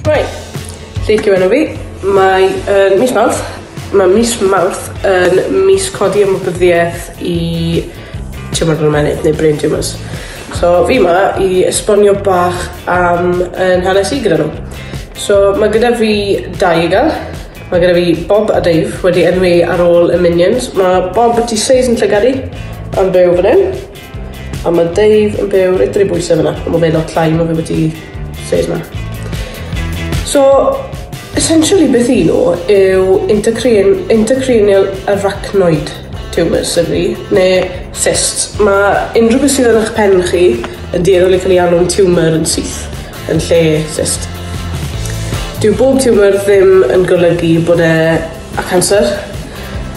Hwyl! Lleic yw enw fi. Mae yn mis Mawrth. Mae mis Mawrth yn mis codi ymwybyddiaeth i tiwmor yn ymennydd neu brain tumours. So fi ma i esbonio bach am yn hanes i gyda nhw. So mae gyda fi dau i gael. Mae gyda fi Bob a Dave wedi enwi ar ôl y Minions. Mae Bob y tu seis yn llygadu yn byw fan hyn. A mae Dave yn byw reit dri bwysau fyna, ond mae fe lot llai mae fe wedi ffeir na. So, essentially beth un nhw yw intercranial, intercranial arachnoid tumours, sydd ni, neu cysts. Mae unrhyw beth sydd yn eich pen chi yn dueddol i cael ei alw'n tumour yn syth, yn lle cyst. Dyw bob tumour ddim yn golygu bod e A canser?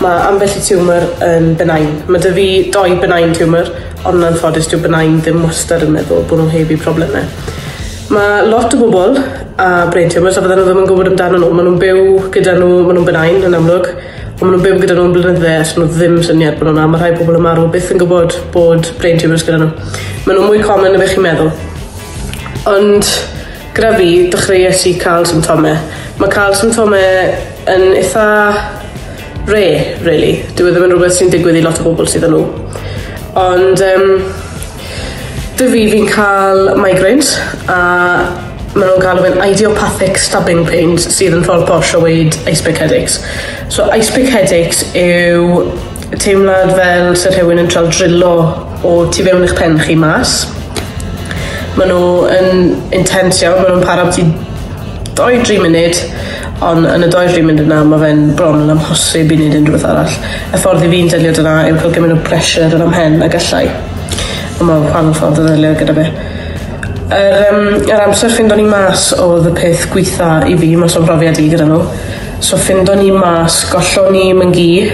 Mae ambell i tiwmor yn benign. Mae 'da fi dou benign tumour, ond yn anffodus dyw benign ddim wastad yn meddwl bod nhw heb eu problemau. Mae lot o bobl a brain tumours a fydden nhw ddim yn gwybod amdano nhw. Maen nhw'n byw gyda nhw, maen nhw'n benign yn amlwg, ond maen nhw'n byw gyda nhw'n blynydde a 'swn nhw ddim syniad bod nhw 'na. Mae rhai pobl yn marw byth yn gwybod bod brain tumours gyda nhw. Maen nhw mwy common na beth chi'n meddwl. Ond Gyda fi, dechreuais i cael symptomau. Mae cael symptomau yn eitha rare, really. Dyw e ddim yn rhywbeth sy'n digwydd i lot o bobl sydd â nhw. Ond um, 'da fi, fi'n cael migraines a maen nhw'n cael fe'n idiopathic stabbing pains sydd yn rhoi'r posh o weud ice pick headaches. So ice pick headaches yw Teimlad fel sy'n rhywun yn trawd drillo o tu fewn i'ch pen chi mas. Mae nhw yn intense iawn, mae nhw'n para ti 2-3 munud, ond yn y 2-3 munud yna mae fe'n bron yn amhosib i wneud unrhywbeth arall. Y ffordd i fi'n delio dyna yw cael gymryd o pressure yn am hen a gallai. Ond mae'n rhan ffordd o ddelio gyda fe. Yr, um, yr amser ffindo ni mas oedd y peth gweitha i fi, mas o'n brofiad i gyda nhw. So ffindo ni mas gollon ni myngu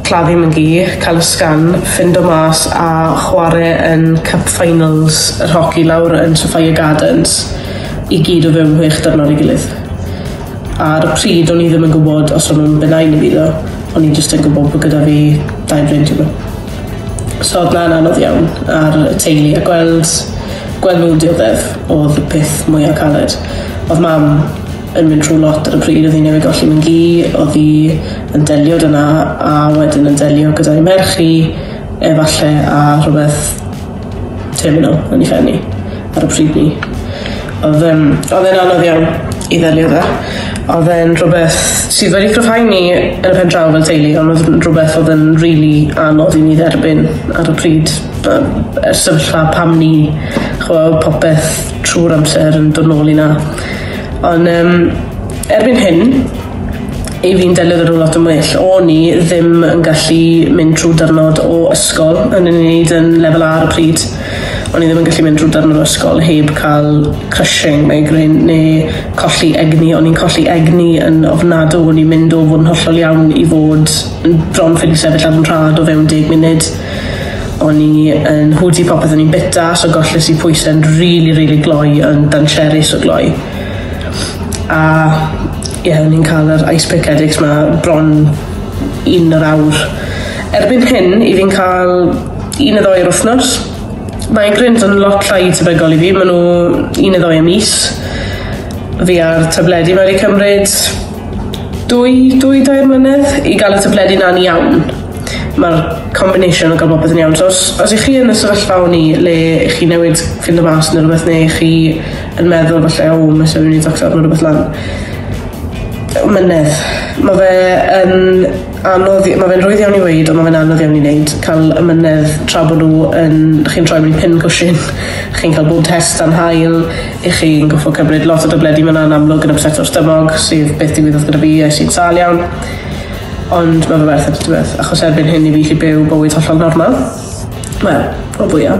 claddu myngu cael ysgan ffindo mas a chwarae yn cup finals yr hoci lawr yn Sophia Gardens i gyd o fewn hwech dyrnod i gilydd ar y pryd o'n i ddim yn gwybod os o'n nhw'n benau neu fyddo o'n i jyst yn gwybod bod gyda fi dau bryd yma so oedd na'n anodd iawn ar y teulu a gweld gweld nhw'n dioddef oedd y peth mwyaf caled oedd mam yn mynd trwy lot ar y pryd, odd hi newydd golli mam-gu, odd 'i yn delio 'da 'na a wedyn yn delio gyda'i merch hi efalle a rhwbeth terminal yn 'i phen 'i ar y pryd 'ny. Odd yym odd e'n anodd iawn i ddelio 'da. Odd e'n rhwbeth sydd wedi cryfhau ni yn y pendraw fel teulu on' odd yn rhwbeth odd yn rili anodd i ni dderbyn ar y pryd by- yy sefyllfa pam ni ch'mo' popeth trw'r amser yn dod nôl i 'na. Ond um, erbyn hyn, i fi'n delio gyda lot yn well. O'n i ddim yn gallu mynd trwy dyrnod o ysgol yn ei wneud yn lefel ar y pryd. O'n i ddim yn gallu mynd trwy dyrnod o ysgol heb cael crushing neu gryn neu colli egni. O'n i'n colli egni yn ofnadw. O'n i'n mynd o fod yn hollol iawn i fod yn bron ffili sefyll ar yn rhad o fewn deg munud. O'n i yn hwdi popeth o'n i'n bita so golles i pwysau'n rili rili gloi yn dancherus o gloi. A ie yeah, o'n i'n cael yr ice pick headaches ma bron un yr awr. Erbyn hyn i fi'n cael un y ddoi yr wythnos. Migraines yn lot llai tebygol i fi, maen nhw un y ddoi y mis. Fi ar tabledi mae wedi cymryd dwy, dwy, dair mlynedd i gael y tabledi na'n iawn. Mae'r combination o gael popeth yn iawn. So os, os ych chi yn y sefyllfa o'n i le ych chi newid ffind o mas neu rhywbeth neu chi yn meddwl falle o mae sef yn i doctor neu rhywbeth lan. Mynedd. Mae fe yn anodd, mae fe'n rwydd iawn i weid ond mae fe'n anodd iawn i wneud. Cael y mynedd tra bod nhw yn, chi'n troi mewn pin cwsyn, chi'n cael bod test am hael, i chi'n goffo cymryd lot o dybledi, mae'n anodd amlwg yn upset o'r stymog sydd beth digwyddodd gyda fi, es i'n sal iawn. Ond ma' fe werth e tybeth? Achos erbyn hyn i fi llu byw bywyd hollol normal. Wel, o fwya.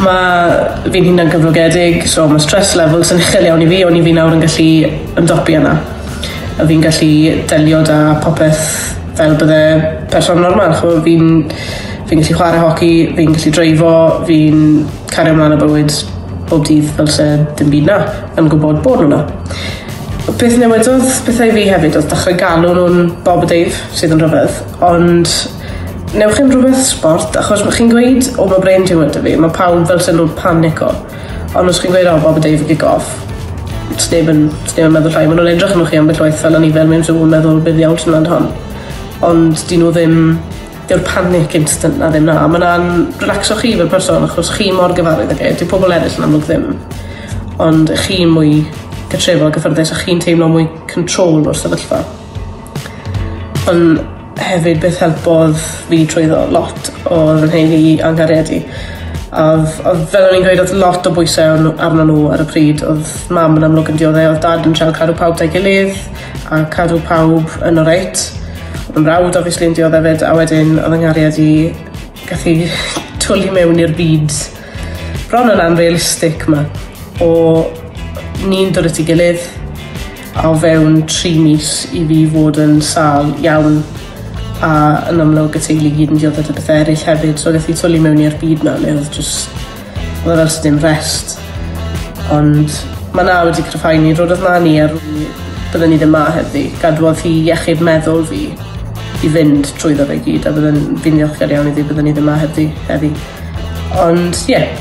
Ma' fi'n hunan gyflogedig, so ma' stress levels yn uchel iawn i fi, oni fi nawr yn gallu ymdopi yna. A fi'n gallu delio da popeth fel bydde person normal, ch'mo' fi'n fi'n gallu chware hoci, fi'n gallu dreifo, fi'n cario mlan â bywyd bob dydd fel se dim byd 'na, yn gwbod bod nw 'na. Beth newidodd pethau i fi hefyd odd dechre galw nhw'n Bob a Dave sydd yn rhyfedd ond newch chi'n rhywbeth sbort achos ma' chi'n gweud o ma' brain tumor da fi ma' pawb fel sy'n nhw'n panico ond os chi'n gweud o Bob a Dave kick off sneb yn sneb yn meddwl llai ma' nhw'n edrych arnoch chi ambell waith fel o'n i fel mewn sŵ yn meddwl be ddiawl sy mlan hon ond 'dyn nhw ddim dyw'r panic instant 'na ddim 'na. Mae 'na'n relaxo chi fel person achos chi mor gyfarwydd ag e. Dyw pobl eraill yn amlwg ddim. Ond chi mwy cartrefol, gyffyrddus a chi'n teimlo mwy control o'r sefyllfa. Ond hefyd beth helpodd fi trwyddo lot odd 'yn nheulu i a'n nghariad i. A odd odd fel o'n i'n gweud odd lot o bwyse ar n'w arnon n'w ar y pryd. Odd mam yn amlwg yn diodde'. Odd dad yn trial cadw pawb 'da'i gilydd. a cadw pawb yn oreit. Fy mrawd obviously yn diodde 'fyd a wedyn odd 'y nghariad i gath 'i twli mewn i'r byd bron yn unrealistic 'ma o ni'n dod at 'i gilydd a o fewn tri mis i fi fod yn sâl iawn a yn amlwg y teulu i gyd yn diodde 'da pethe eryll hefyd so gath 'i twli mewn i'r byd 'na le odd jyst Wel oes dim rest. Ond mae na wedi cryfhau ni, roedd na ni ar byddwn ni ddim ma heddi. Gadwodd hi iechyd meddwl fi i fynd trwy fe gyd a byddwn fi'n ddiolchgar iawn iddi byddwn ni ddim ma heddi. heddi. Ond ie, yeah.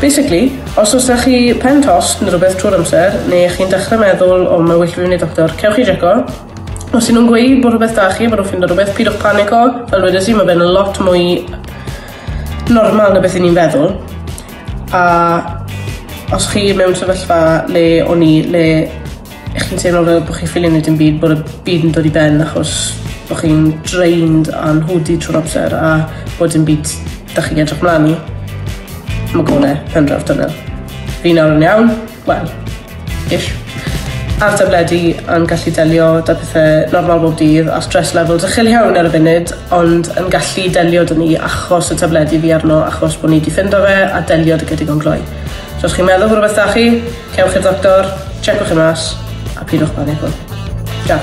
Basically, os oes da chi pen tost neu rhywbeth trwy'r amser, neu chi'n dechrau meddwl o mae well fi fynd i doctor, cewch chi jeco. Os ydyn nhw'n gweud bod rhywbeth da chi, bod nhw'n ffindo rhywbeth, pidwch panico. Fel wedi si, mae fe'n lot mwy normal na beth o'n i'n feddwl a os chi mewn sefyllfa le o'n i le chi'n teimlo fel bod chi'n ffili neud dim byd bod y byd yn dod i ben achos bod chi'n drained a'n hwdi trwy'r amser a bod dim byd da chi'n edrych mlaen i. Mae gole pen draw tunnel. Fi nawr yn iawn, wel, ish. Ar tabledi yn gallu delio da pethau normal bob dydd a stress levels uchel iawn ar y funud, ond yn gallu delio dyn ni achos y tabledi fi arno, achos bod ni wedi ffindo fe a delio dy gydigon gloi. So os chi'n meddwl bod rhywbeth da chi, cewch i'r doctor, checwch yn mas, a pidwch panico. Ciao.